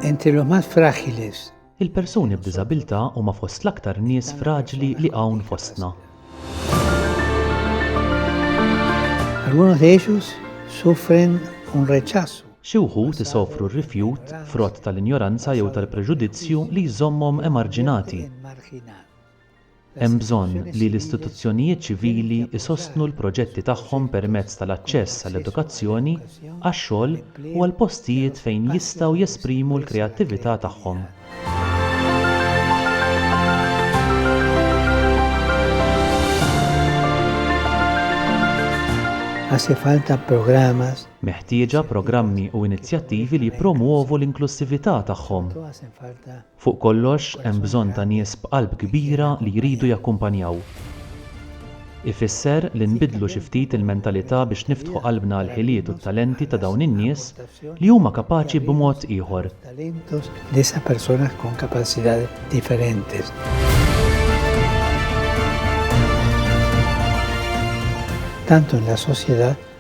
Entilomat fragiles. Il-persuni b'diżabilità huma fost l-aktar nies fraġli li hawn fostna. Algunos de ellos sufren un rechazo. Xi wħud isofru r-rifjut frott tal-injoranza jew tal-preġudizzju li jżommhom emarġinati. Hemm bżonn li l-istituzzjonijiet ċivili jsostnu l-proġetti tagħhom permezz tal-aċċess għall-edukazzjoni, għax-xogħol u għal postijiet fejn jistgħu jesprimu l-kreattività tagħhom. Hace falta programas Meħtieġa programmi u inizjattivi li jippromwovu l-inklussività tagħhom. Fuq kollox, hemm bżonn ta' nies b'qalb kbira li jridu jakkumpanjaw. Ifisser li nbiddlu xi ftit il-mentalità biex niftħu qalbna għall-ħiliet u t-talenti ta' dawn in-nies li huma kapaċi b'mod ieħor.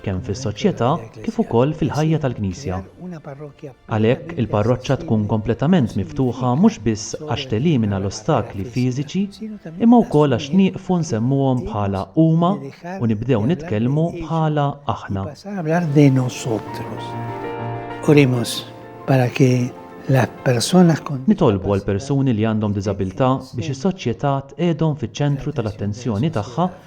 kemm fis-soċjetà kif ukoll fil-ħajja tal-Knisja. Għalhekk, il-parroċċa tkun kompletament miftuħa mhux biss għax telimina l-ostakli fiżiċi, imma wkoll għax nieqfu nsemmuhom bħala huma u nibdew nitkellmu bħala aħna. Oremos para que Nitolbu għal persuni li għandhom diżabilità biex is-soċjetà tqegħdhom fiċ-ċentru tal-attenzjoni tagħha